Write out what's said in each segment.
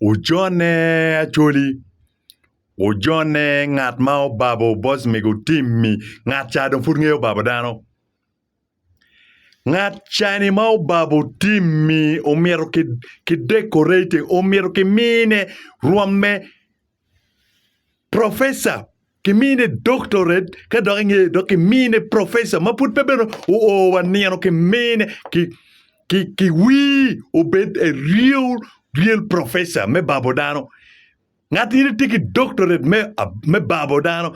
Ojone Acholi, Ojone ngat ma obabo bos mege otim-mi, ngat ca dong pud ngeyo babo dano. Ngat cani ma obabo tim-mi omyero ki dekorate, omyero kimine rwom me Professor, kimine doctorate ka dok inge dok kimine professor ma pud pe bene oo wa nino kimine ki ki ki wii obed a real real professor me babo dano. Ngat in itye ki doctorate me me babo dano.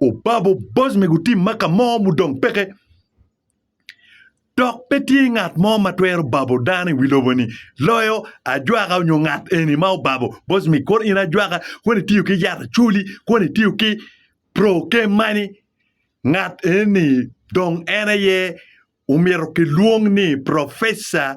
Obabo boc me gutim ma ka mo mudong peke, dok pe tye ngat mo ma twero babo dano i wi lobo-ni loyo ajwaka nyo ngat eni ma obabo boc me kor in ajwaka kun itiyo ki yat acoli kun itiyo ki prokemani, ngat eni dong en aye omyero kilwong ni professor.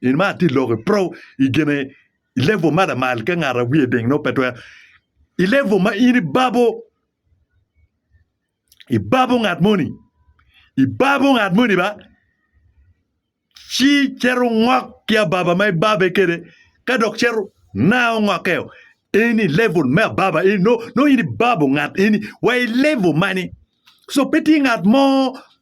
In ma atye lok i pro i gine i level ma lamal ka ngat a wiye ding no pe twero i level ma in ibabo ibabo ngat moni ibabo ngat moni ba ci cero ngok ki ababa ma ibabe kede ka dok cero na ongokeo in i level me ababa in no no in ibabo ngat eni wa i level mani so pe tye ngat mo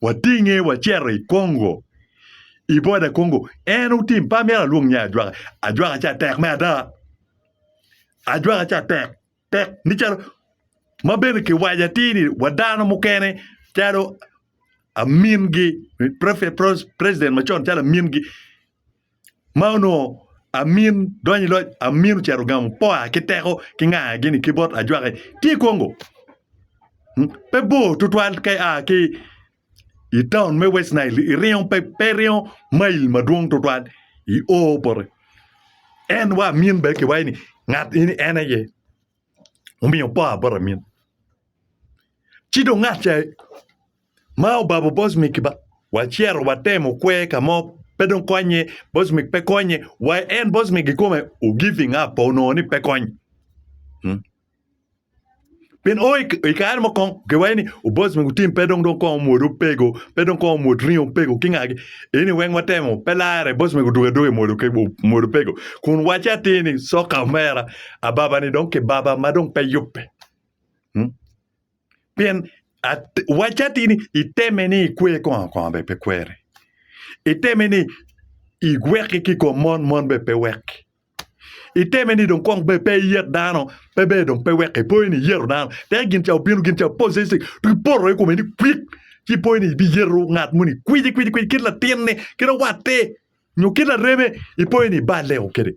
watinge wacito i Congo i boda Congo en otim pa myero alwong nye ajwaka ajwaka ca tek me ada ajwaka ca tek tek ni calo ma bene kiwaco atir ni wa dano mukene calo amingi president macon calo amingi ma onongo amin donyo i loc amin ocito ogamo powa ki teko ki nganga gini ki bot ajwaki tye i Congo pe bor tutwal ka ia ki i taun me West Nile iringo pe iringo mail madwong tutwal i o bote en wa amin bene kiwaco ni ngat eni en aye. omiyo opor bot amin. Ci dong ngat ca ma obabo boc mi kiba wacito watemo kwe ka mo pe dong konye boc mi pe konye wa en boc mi kikome o giving up onongo ni pe kony pien o i kare mo kong giwaco ni boc mi gutim pe dong kong omwodo pego pe dong kong omwod ringo pego ki ngagi eni weng watemo pe lare boc mi odugo aduga omwodo pego kun wacce atir ni soka omera Ababa-ni dong kibaba ma dong pe yubbe. Hmm? Pien wacce atir ni iteme ni ikwer kongo kongo be pe kwere. Iteme ni iweki ki kom mon mon be pe weki. Iteme ni dong kong be pe iyet dano pe be dong pe weki. Ipoyo ni iyero dano. Te gin ca obino gin ca possessive to iporo i kome ni kwik ci ipoyo ni ibiyero ngat muni kwiji kwiji kwiji kit latinni kit owatte nyo kit lareme ipoyo ni ibaleo kede.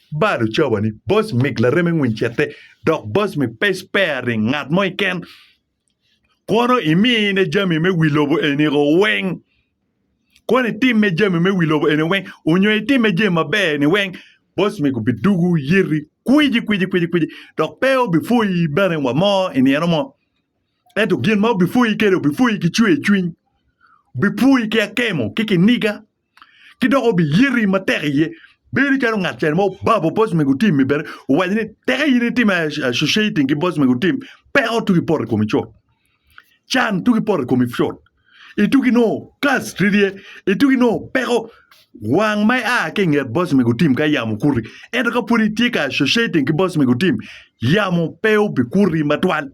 Balo cawa ni boss mig lareme ngwiny cete dok boss mi pe spare ring ngat mo iken kono imine jami me wi lobo eniko weng kono itimme jami me wi lobo eni weng onyo itimme jami maber ni weng boss mig obi dugu yiti kwiji kwiji kwiji kwiji dok pe obi pwoyi bene wa mo inino mo ento gin ma obi pwoyi kede obi pwoyi ki cwer cwiny obi pwoyi ki akemo ki kiniga ki dok obiyeti matek iye bedo calo ngat cen mo obabo boss mego tim mi bene owaco ni teke in itim associating ki boss mego tim peko tuki poto i komi cut can tuki poto i komi cut ituki no kas ridye ituki no peko wang ma ia ki inget boss mego tim ka yamo okuti ento ka pwod itye ka associating ki boss mego tim yamo pe obikuti matwal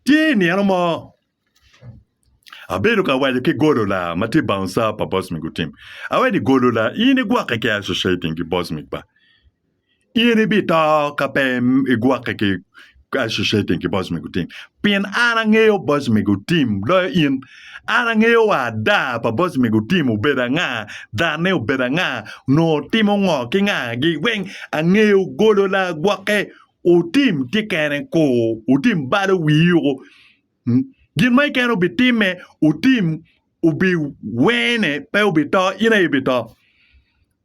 Tye i nino mo, abedo ka waco ki Golola ma tye bouncer pa Bosmic Gutim, awaco ni, 'Golola, in igwokke ki Associating ki Bosmic ba? In ibito ka pe igwokke ki Associating ki Bosmic Gutim, pien an angeyo Bosmic Gutim loyo in. An angeyo wa ada pa Bosmic Gutim obedo anga, danne obedo anga, onongo timo ngo ki ngagi weng. Angeyo Golola gwokke Otim tye kene ko, otim balo wii yuko. Hmm? Gin ma ikene obitimme, otim obi wene pe obito, in aye ibito.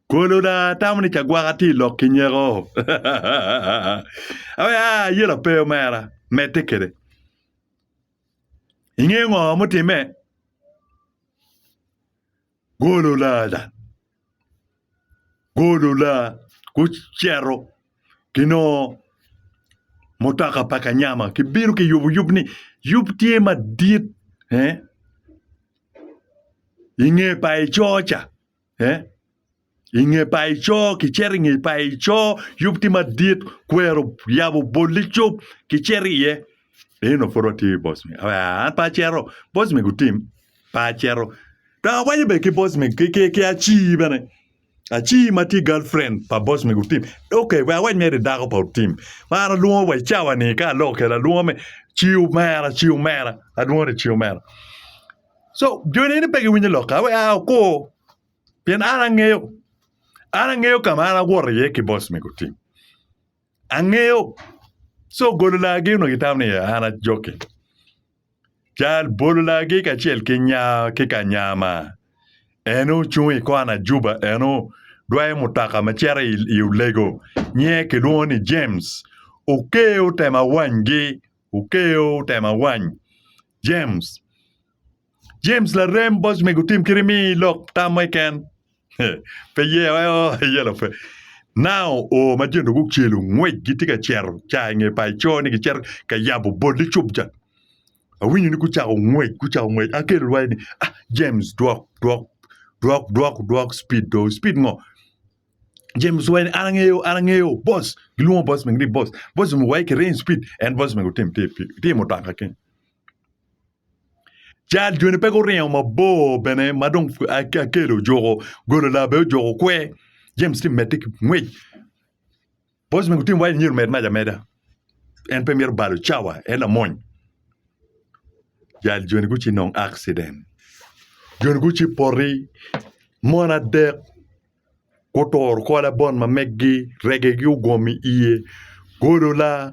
Kolo da tamo ni cagwaka tye i lok ki nyeko. Awe a ye lape omera, medde kede. Inge ngo mutimme? Gololada, golola gucito ginongo mutoka pa kanyama kibino kiyubo yub ni yub tye madit inge pa ico ca I nge paco, kicito i nge paco, yub tye madit, kwero yabo bolli cop, kicito iye. Eno pud watye i boss man. Ah, an pe acito. Boss man gutim. Pe acito. Dok awaco bene ki boss man, ki, ki, ki Acii bene. Acii ma tye girlfriend pa boss man gutim. Ok, we awac mere i dako pa otim. Ma an alwongo wa i cawa ni ka aloko kede alwongo me Cii omera, Cii omera. Alwongo ni Cii omera. So, joni eni pe giwinyo lokka. Awe, ah, okur. Pien an angeyo, an angeyo ka ma an awoto iye ki boss me gutim. Angeyo. So golo lagi onongo itamo ni an a joking. Jal bolo lagi kacel ki nya ki kanyama en ocung i kona juba en odwayo mutoka ma cito i olego nyiye kilwongo ni James. Okeyo tema wanygi, okeyo tema wany James. James larem boc mego tim kit imi lok tam mo keken. Pe ye ayo yelo pe. Nao o ma jendo gucelu ngwec gitye ka cero ca inge pa ico ni gicero ka yabo bol i cubca. Awinyo ni gucako ngwec, gucako ngwec. Akelo lwai ni, ah, James dwok, dwok, dwok, dwok, dwok speed do. Speed ngo? James wai ni an angeyo, an angeyo, boss. Gilwongo boss mego ni boss. Boss mego wai kiring speed. En boss mego tim tye i mutoka keny. Cal joni pe guringo mabor bene ma dong Akel ojuko golo laa bene ojuko kwer James tye ka medde ki ngwec Bosman ki Tim waco ni myero omed mac ameda en pe mito balo cawa en lamony jal joni gucii nongo akciden joni gucii poti mon adek guturo kor labon ma megi regegi ogomo i iye golo laa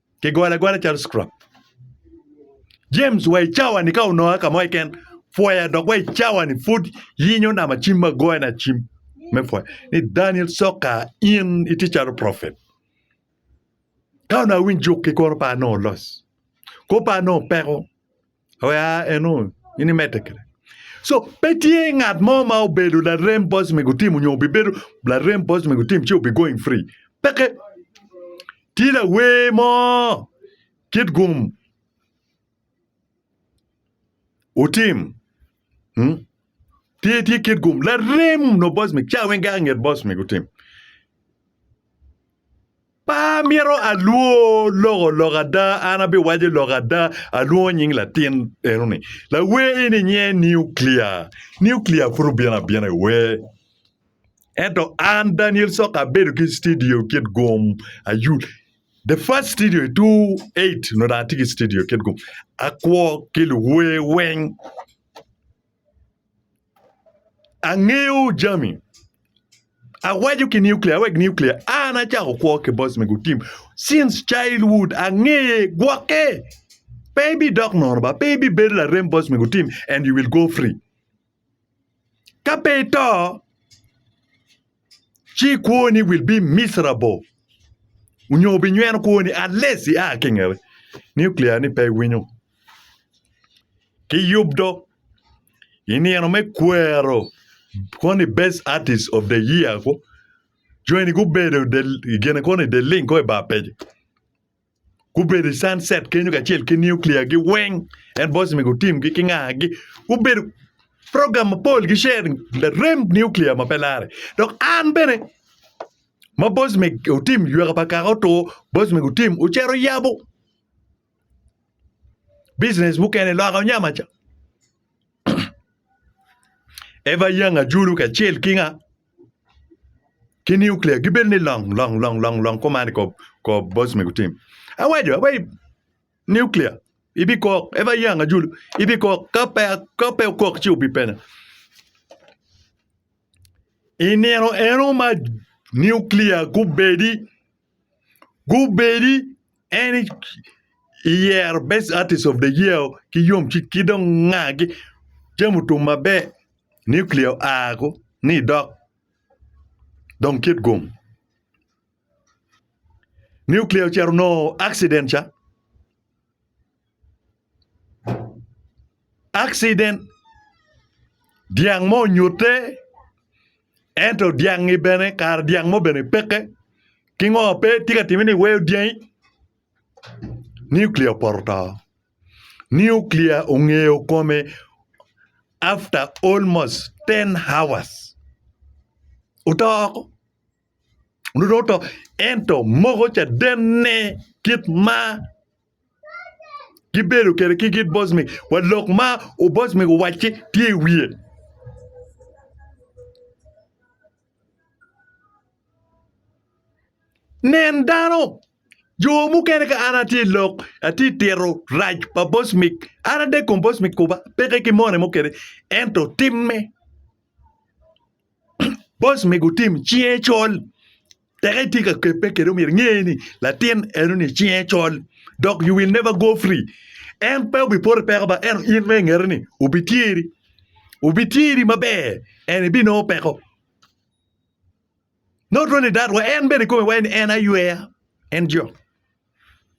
Kigwale agwala calo scrap. James wa i cawa ni ka ononga ka mo keken pwoya dok wa i cawa ni pud yinyo nama cim ma goyo na cim me pwoya ni Daniel Soka in itye calo prophet. Ka onongo awiny juk ki kono pa anongo los. Kop pa anongo peko. Oya eno in imedde kede. So pe tye ngat mo ma obedo larem boss me gutim onyo obibedo larem boss me gutim ci obi going free. Peke. Tye lawer mo kit gum otim hmm? tye tye kit gum larem no boss me ca weng gak nget boss me gutim. Pe amito alwor loko lok ada, an abiwaco lok ada. Alwongo nying latin eno-ni. Lawer eni nyinge Niuklia. Niuklia pud obino abina i wer. Ento an, Daniel Soka, abedo ki studio kit gum. Ayu, the first studio i 2008 onongo dong atye ki studio kit gum. Akwo ki luwer weng. Angeyo jami. Awaco ki nuclear, awek nuclear. An achako kwo ki boss me gutim. Since childhood, angeye, gwoke. Pe ibi dok nono ba, pe ibi bedo larem boss me gutim and you will go free. Ka pe ito, ci kwoni will be miserable onyo obinyweno kwoni unless i a ki i ngete. Nuclear ni pe winyo. Ki yub dog i nino me kwero koni best artist of the year ko joni gubedo del gine koni del ling ko i bar page. gubedo i sunset kenyo kacel ki nuclear gi weng en boss me gutim gi kinga gi gubedo program mapol gi sharing larem nuclear ma pe lare dok an bene ma boss me otim yweka pa kaka otur boss me gutim ocito yabo business mukene loka onyama cha Eva Young Ajulu kacel ki nga? Ki nuclear gibedo ni long long long long long kuman ikob kob boss me gutim. Awaco awaco nuclear ibi kok Eva Young Ajulu ibi kok ka pe ka pe okok ci obi penya. I nino eno ma nuclear gubedi gubedi en eyero best artist of the year ki yomcwiny ki dong nga jami otum maber nuclear oa ni dok dong kit gum nuclear ocito onongo accident ca. accident dyang mo onyutte ento dyangi bene kare dyang mo bene peke kingo pe tye ka timme ni iweyo dyangi nuclear opoto oto nuclear ongeyo kome after almost ten hours oto oko onongo dong oto ento moko cadenne kit ma Gibedo kede ki gin bocmi wa lok ma obocmi owacci tye i wiye. Nen dano jo mukene ka an atye lok atye tito rac pa bocmi an ade kom bocmi kuba peke ki mone mo kede ento timme. Bos me gutim cinge col teke itye ka kebe kede omyero inge ni latin enoni cinge col dok you will never go free en pe obi poto i peko ba ento in ma ingete ni obi tyeri obi tyeri maber and ibinongo peko not only that wa en bene ikome waneno ni en ayweya en jo.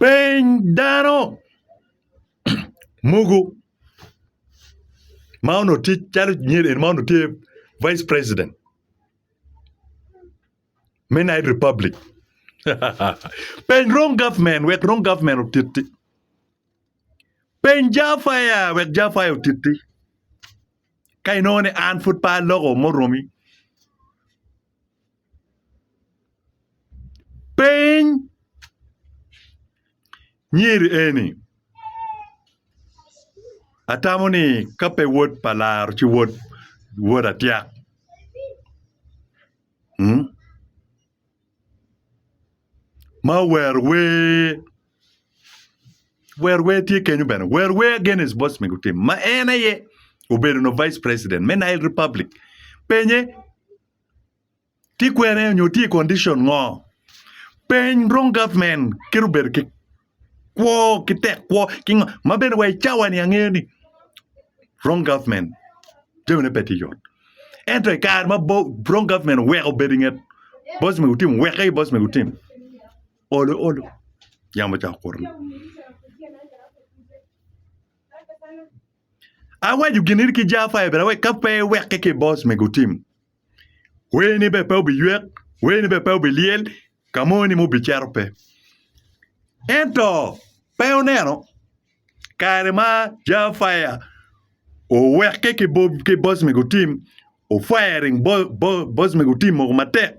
Piny dano mogo ma onongo tye calo Nyerere ma onongo tye Vice President me Nile Republic peny wrong government wek wrong government otiti peny Jar Fire wek Jar Fire otiti ka inongo ni an pud pe aloko muromi Piny nyer eni atamo ni ka pe wod pa laro ci wod wod atyak ma owero wer Wer wer tye kenyo bene wer wer Agnes Bosme gutimo ma en aye obedo no vice president me Nile Republic penye tye kwene nyo tye i condition ngo peny wrong government kit obedo ki kwo ki tek kwo ki ngo ma bene wa i cawa ni angeyo ni wrong government jamine pe tye yot ento i kare ma wrong government oweko obedo inget Bosme Otim oweke Bosme Otim Olo olo yamo ocako kuto ni awaco gini ki jaffa aye bene ka pe iweke ki boss mego tim wer ni bene pe obiywek wer ni bene pe obilyel ka mo ni ma obicito pe ento pe oneno kare ma jaffa oweke ki boss mego tim ofire boss mego tim moko matek.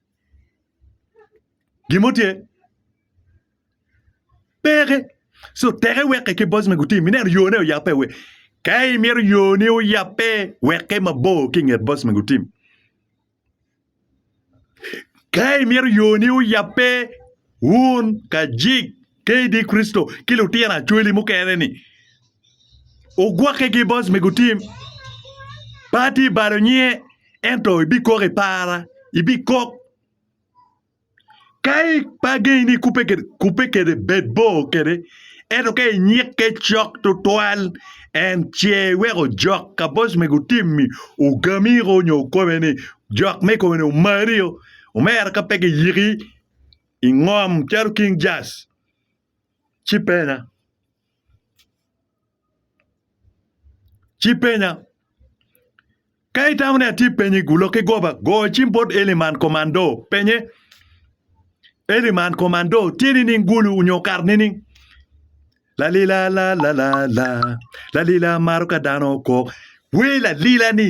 Gin mo tye? Peke. So teke weke ki boss me gutim ineno yone oyape we. Ka imito yoni oyape weke mabor ki inget boss me gutim. Ka imito yoni oyape Wun kajik kadi Kricito ki lutino acwali mukene-ni ogwokkegi bot me gutim. Pati balo nyinge, ento ibikok i para, ibikok. Ka ipe agenyi ni kubbe kwede, bed bor kwede, ento ka inyikke cok tutwal, en ce iweko jok ka bot me gutim-mi ogamiko nyo okobe ni, Jok me i kome-ni omario, omera ka pe giyiki. i ngom calo king jas ci pena ci penya ka itamo ni atye penyi gulo ki goba go cim bot eli man komando penye eli man komando tye nining gulu nyo kar nining lalila la la la la lalila maro ka dano kok wer lalila ni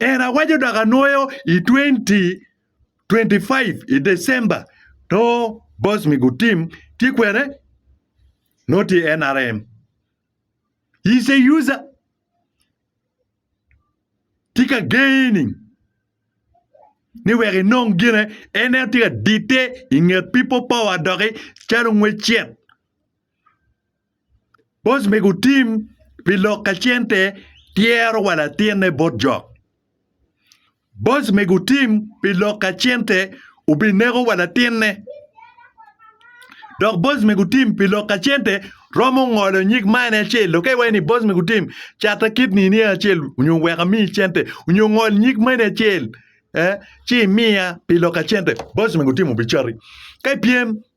En awaco dok anwoyo i 2025 i December to boss me good team tye kwene nongo tye i NRM. He's a user. Tye ka gaining ni wek inong gine en en tye ka dite i nget people power doki calo ngwecet. Boc me gutim pi lok ka cente tyero wa latinne bot jok. Boc me gutim pi lok ka cente obineko wa latinne. Dok boc me gutim pi lok ka cente romo ngolo nyig ma en acel lo ka iwaco ni boc me gutim cata kidni ni acel onyo wek amiyi cente onyo ngol nyig mani acel ci imiya pi lok ka cente boc me gutim obicati ka ipyem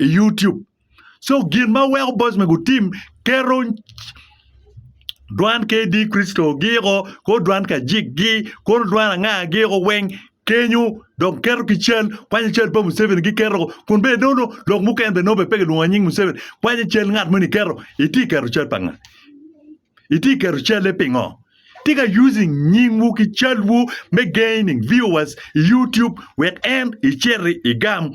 i YouTube. So gin ma weko boys me gutim keto dwan KD Crystal giko ko dwan ka jik gi ko dwan anga giko weng kenyo dok keto ki cal kwanyo cal pa Museveni giketo kun be nono lok mukene be nono be pe kilwongo nying Museveni kwanyo cal ngat moni keto iti keto cal pa nga iti keto calle pingo tika using nyingwu ki calwu me gaining viewers i YouTube wek en iciti igam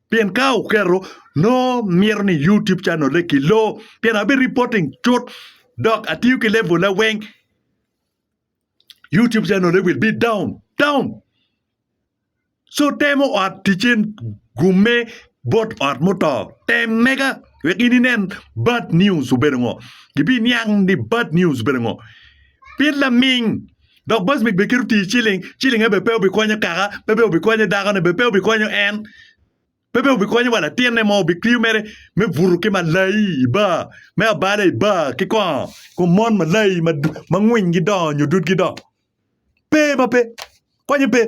Pien ka oketo, nongo mito ni YouTube channel-le kiloo pien abi reporting cut dok atiyo ki level-la weng. YouTube channel-le will be down, down. So temo ot ticce gumme bot ot muto. Tem mega wek in inen bad news obedo ngo. Gibiniang ni bad news obedo ngo. Pien laming Dok Bocmit bene keto tir ciling, ciling aye bene pe obikonyo kaka, pe bene obikonyo dakone, bene pe obikonyo en, pe bene obikonyo wa latinne mo, obitiyo mere me buto ki malai i bar, me abalo i bar ki kongo kom mon malai ma ngwingi dongo nyo dudgi dongo. Pe ma pe, konye pe.